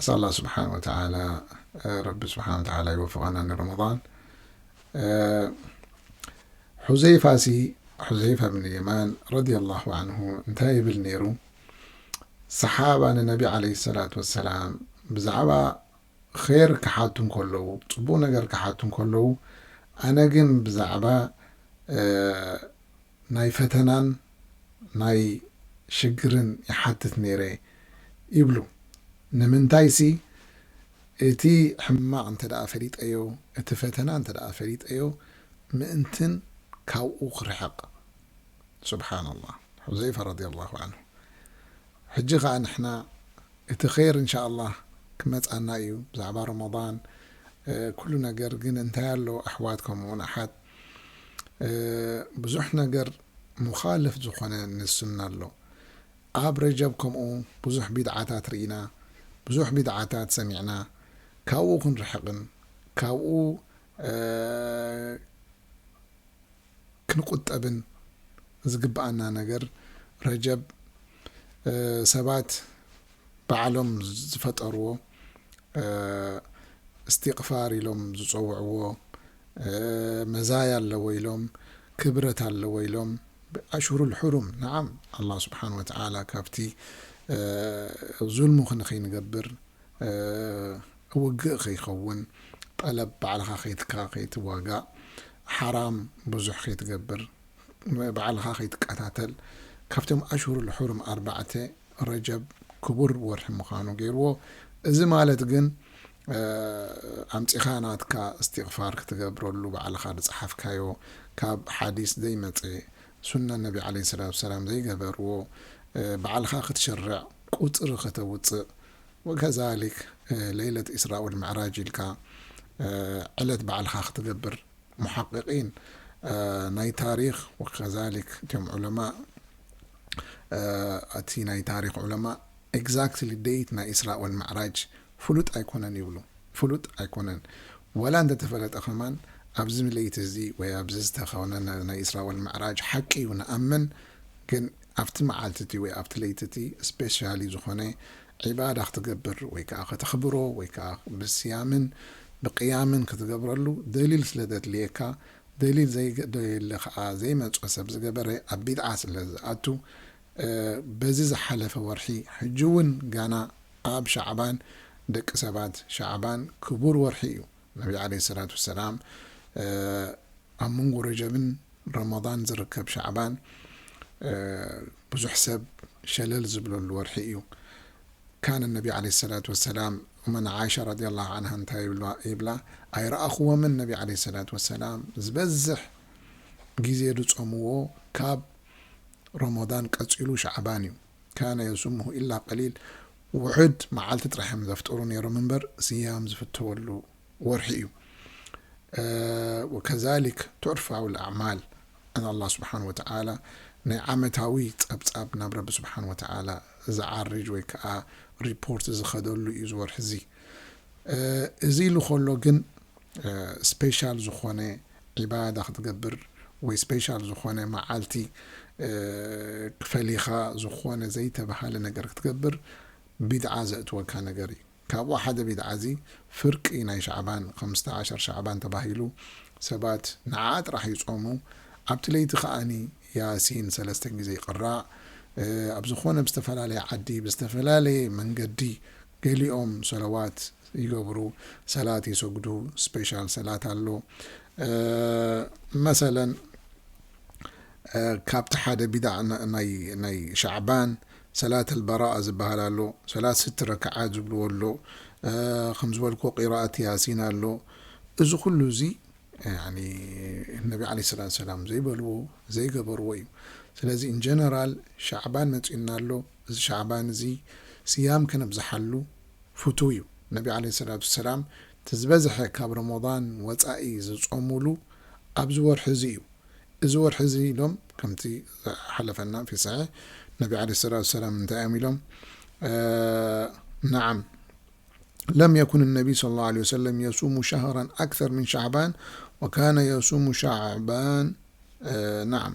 ኣስኣላህ ስብሓን ወተዓላ ረቢ ስብሓን ወተዓላ ይወፍቀና ንረመዳን ሑዘይፋ ሲ ሑዘይፋ ብን የማን ረዲየላሁ ዓንሁ እንታይ ይብል ነይሩ ሰሓባ ንነቢ ዓለይሂ ሰላት ወሰላም ብዛዕባ ኼር ክሓቱ እንከለዉ ፅቡቕ ነገር ክሓቱ እንከለዉ ኣነ ግን ብዛዕባ ናይ ፈተናን ናይ ሽግርን ይሓትት ነይረ ይብሉ። ንምንታይሲ እቲ ሕማቕ እንተደኣ ፈሊጠዮ፣ እቲ ፈተና እንተደኣ ፈሊጠዮ ምእንትን ካብኡ ክርሕቕ። ሱብሓነላህ። ሑዘይፋ ረዲየላሁ ዓንሁ። ሕጂ ከኣ ንሕና እቲ ኼር እንሻኣላህ ክመጻና እዩ ብዛዕባ ሮሞዳን ኩሉ ነገር ግን እንታይ ኣሎ ኣሕዋት ከምኡውን ኣሓት፣ ብዙሕ ነገር ሙኻልፍ ዝኾነ ንሱና ኣሎ ኣብ ረጀብ ከምኡ ብዙሕ ቢድዓታት ሪኢና ብዙሕ ቢድዓታት ሰሚዕና ካብኡ ክንርሕቅን ካብኡ ክንቁጠብን ዝግበኣና ነገር ረጀብ ሰባት ባዕሎም ዝፈጠርዎ እስቲቅፋር ኢሎም ዝጸውዕዎ መዛያ ኣለዎ ኢሎም ክብረት ኣለዎ ኢሎም ኣሽሁሩል ሑሩም ነዓም ኣላህ ስብሓን ወተዓላ ካብቲ ዙልሙ ክንኸይንገብር ውግእ ከይኸውን ጠለብ ባዕልኻ ከይትካ ከይትዋጋእ ሓራም ብዙሕ ከይትገብር ባዕልኻ ከይትቀታተል ካብቶም ኣሽሁሩል ሑሩም ኣርባዕተ ረጀብ ክቡር ወርሒ ምዃኑ ገይርዎ እዚ ማለት ግን ኣምጺኻ ናትካ እስቲቅፋር ክትገብረሉ ባዕልኻ ድጽሓፍካዮ ካብ ሓዲስ ዘይመጸ ሱና ነቢ ዓለይሂ ሰላቱ ወሰላም ዘይገበርዎ ባዕልኻ ክትሽርዕ ቁጽሪ ከተውጽእ ወከዛሊክ ለይለት ኢስራ ወልምዕራጅ ኢልካ ዕለት ባዕልኻ ክትገብር ሙሓቂቂን ናይ ታሪኽ ወከዛሊክ እቶም ዑለማእ እቲ ናይ ታሪኽ ዑለማእ ኤግዛክትሊ ደይት ናይ ኢስራ ወልምዕራጅ ፍሉጥ ኣይኮነን ይብሉ ፍሉጥ ኣይኮነን ዋላ እንተተፈለጠ ከማን ኣብዚ ለይቲ እዚ ወይ ኣብዚ ዝተከነ ናይ ኢስራ ወል ምዕራጅ ሓቂ እዩ ንኣምን ግን ኣብቲ መዓልቲ እቲ ወይ ኣብቲ ለይቲ እቲ ስፔሻሊ ዝኮነ ዒባዳ ክትገብር ወይ ከኣ ከተክብሮ ወይ ከኣ ብስያምን ብቅያምን ክትገብረሉ ደሊል ስለ ዘድልየካ ደሊል ዘይደልየለ ከኣ ዘይመጾ ሰብ ዝገበረ ኣብ ቢድዓ ስለ ዝኣቱ በዚ ዝሓለፈ ወርሒ ሕጂ ውን ጋና ኣብ ሻዕባን ደቂ ሰባት ሻዕባን ክቡር ወርሒ እዩ ነቢ ዓለይሂ ሰላት ወሰላም ኣብ መንጎ ረጀብን ረመዳን ዝርከብ ሻዕባን ብዙሕ ሰብ ሸለል ዝብለሉ ወርሒ እዩ ካን ነቢ ዓለይሂ ሰላት ወሰላም መን ዓይሻ ረዲየላሁ ዓንሃ እንታይ ይብላ ኣይረኣኹዎምን ነቢ ዓለይሂ ሰላት ወሰላም ዝበዝሕ ግዜ ዝጾምዎ ካብ ረመዳን ቀጺሉ ሻዕባን እዩ ካነ የሱምሁ ኢላ ቀሊል፣ ውሑድ፣ መዓልቲ ጥራሕ እዮም ዘፍጥሩ ነይሮም እምበር ስያም ዝፍተወሉ ወርሒ እዩ። ወከዛሊክ ቱዕርፋዊ ኣዕማል ን ኣላህ ስብሓን ወተዓላ ናይ ዓመታዊ ጸብጻብ ናብ ረቢ ስብሓን ወተዓላ ዝዓርጅ ወይ ከኣ ሪፖርት ዝኸደሉ እዩ እዚ ወርሒ እዚ። እዚ ኢሉ ከሎ ግን ስፔሻል ዝኾነ ዒባዳ ክትገብር ወይ ስፔሻል ዝኾነ መዓልቲ ፈሊኻ ዝኾነ ዘይተብሃለ ነገር ክትገብር ቢድዓ ዘእትወካ ነገር እዩ። ካብኡ ሓደ ቢድዓ እዚ ፍርቂ ናይ ሻዕባን ኸምስተ ዓሸር ሻዕባን ተባሂሉ ሰባት ንዓኣ ጥራሕ ይጾሙ ኣብቲ ለይቲ ኸኣ ያሲን ሰለስተ ግዜ ይቅራእ ኣብ ዝኾነ ብዝተፈላለየ ዓዲ ብዝተፈላለየ መንገዲ ገሊኦም ሰለዋት ይገብሩ ሰላት ይሰግዱ ስፔሻል ሰላት ኣሎ መሰለን ካብቲ ሓደ ቢድዓ ናይ ሻዕባን ሰላት ኣልበራኣ ዝብሃል ኣሎ ሰላት ስቲ ረክዓት ዝብልዎ ኣሎ ከም ዝበልክዎ ቂራኣት ያሲን ኣሎ እዚ ኩሉ እዚ ያኒ ነቢ ዓለይሂ ሰላቱ ወሰላም ዘይበልዎ ዘይገበርዎ እዩ ስለዚ ኢን ጀነራል ሻዕባን መጺኡና ኣሎ እዚ ሻዕባን እዚ ስያም ከነብዝሓሉ ፍቱው እዩ ነቢ ዓለይሂ ሰላቱ ወሰላም እቲ ዝበዝሐ ካብ ሮሞዳን ወጻኢ ዝጾሙሉ ኣብዚ ወርሒ እዚ እዩ እዚ ወርሒ እዚ ኢሎም ከምቲ ዝሓለፈና ፊ ሰሒሕ ነቢ ዓለይሂ ሰላቱ ወሰላም እንታይ እዮም ኢሎም ነዓም ለም የኩን ነቢ ሰለላሁ ዓለይሂ ወሰለም የሱሙ ሸህራን ኣክተር ምን ሻዕባን ወካነ የሱሙ ሻዕባን ነዓም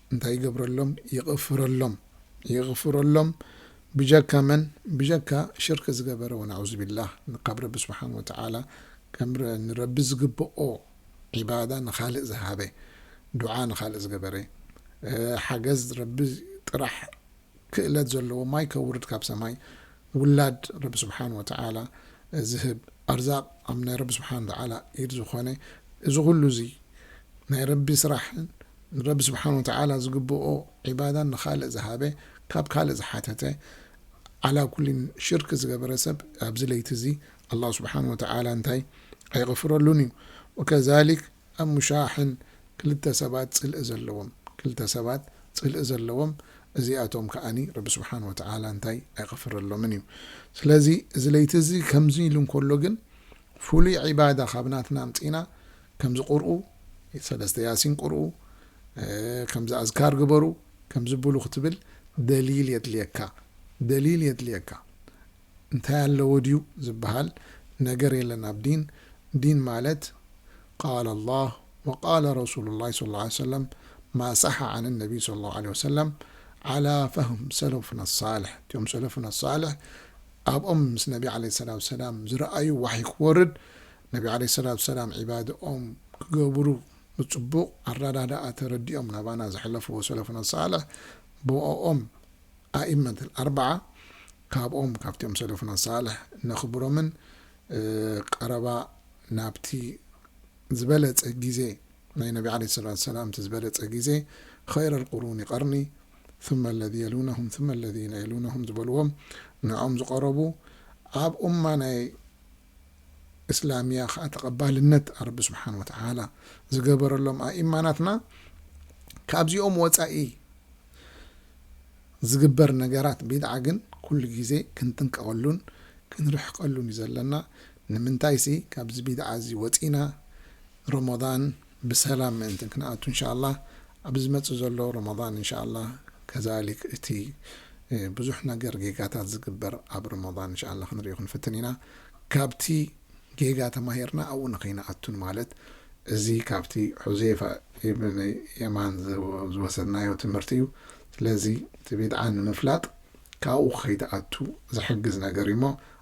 እንታይ ይገብረሎም ይቕፍረሎም ይቕፍረሎም ብጀካ መን ብጀካ ሽርክ ዝገበረ ወናዑዝቢላህ ንካብ ረቢ ስብሓን ወተዓላ ከም ንረቢ ዝግብኦ ዒባዳ ንኻልእ ዝሃበ ዱዓ ንኻልእ ዝገበረ ሓገዝ ረቢ ጥራሕ ክእለት ዘለዎ ማይ ከውርድ ካብ ሰማይ ውላድ ረቢ ስብሓን ወተዓላ ዝህብ ኣርዛቅ ኣብ ናይ ረቢ ስብሓን ወተዓላ ኢድ ዝኾነ እዚ ኩሉ እዚ ናይ ረቢ ስራሕን ንረቢ ስብሓን ወተዓላ ዝግብኦ ዒባዳን ንኻልእ ዝሃበ ካብ ካልእ ዝሓተተ ዓላ ኩሊን ሽርክ ዝገበረ ሰብ ኣብዚ ለይቲ እዚ ኣላህ ስብሓን ወተዓላ እንታይ ኣይቕፍረሉን እዩ ወከዛሊክ ኣብ ሙሻሕን ክልተ ሰባት ጽልኢ ዘለዎም ክልተ ሰባት ጽልኢ ዘለዎም እዚኣቶም ከኣ ረቢ ስብሓን ወተዓላ እንታይ ኣይቐፍረሎምን እዩ ስለዚ እዚ ለይቲ እዚ ከምዚ ኢሉ እንከሎ ግን ፍሉይ ዒባዳ ካብ ናትና ኣምጺእና ከምዚ ቁርኡ ሰለስተ ያሲን ቁርኡ ከምዚ ኣዝካር ግበሩ ከምዚ ብሉ ክትብል ደሊል የድልየካ ደሊል የድልየካ እንታይ ኣለዎ ድዩ ዝብሃል ነገር የለን ኣብ ዲን፣ ዲን ማለት ቃለ ኣላህ ወቃለ ረሱሉላህ ሰለላሁ ዓለይሂ ወሰለም ማ ሳሐ ዓን ነቢይ ሰለላሁ ዓለይሂ ወሰለም ዓላ ፈህም ሰለፉና ኣሳልሕ እቲኦም ሰለፉና ኣሳልሕ ኣብኦም ምስ ነቢ ዓለይሂ ሰላቱ ወሰላም ዝረኣዩ ዋሕይ ክወርድ ነቢ ዓለይሂ ሰላቱ ወሰላም ዒባድኦም ክገብሩ ብፅቡቕ ኣረዳድኣ ተረዲኦም ናባና ዘሕለፍዎ ሰለፉና ኣሳልሕ ብኦኦም ኣኢመት ኣልኣርባዓ ካብኦም ካብቲኦም ሰለፉና ሳልሕ ነኽብሮምን ቀረባ ናብቲ ዝበለጸ ግዜ ናይ ነቢ ዓለይሂ ሰላቱ ወሰላም እቲ ዝበለጸ ግዜ ኸይረል ቁሩኒ ቀርኒ ثመ ኣለዚ የሉነሁም ثመ ኣለዚነ የሉነሁም ዝበልዎም ንዕኦም ዝቐረቡ ኣብ ኡማ ናይ እስላምያ ከኣ ተቐባልነት ኣረቢ ስብሓን ወተዓላ ዝገበረሎም ኣኢማ ናትና ካብዚኦም ወጻኢ ዝግበር ነገራት ቢድዓ ግን ኩሉ ግዜ ክንጥንቀቐሉን ክንርሕቀሉን እዩ ዘለና ንምንታይሲ ካብዚ ቢድዓ እዚ ወጺእና ሮሞዳን ብሰላም ምእንቲ ክንኣቱ እንሻኣላህ ኣብ ዝመጽእ ዘሎ ሮሞዳን እንሻኣላህ ከዛሊክ እቲ ብዙሕ ነገር ጌጋታት ዝግበር ኣብ ሮሞዳን እንሻኣላህ ክንሪኦ ክንፍትን ኢና ካብቲ ጌጋ ተማሂርና ኣብኡ ንከይንኣቱ ንማለት እዚ ካብቲ ሑዜፋ ኢብን የማን ዝወሰድናዮ ትምህርቲ እዩ ስለዚ እቲ ቢድዓ ንምፍላጥ ካብኡ ከይትኣቱ ዝሕግዝ ነገር እዩ እሞ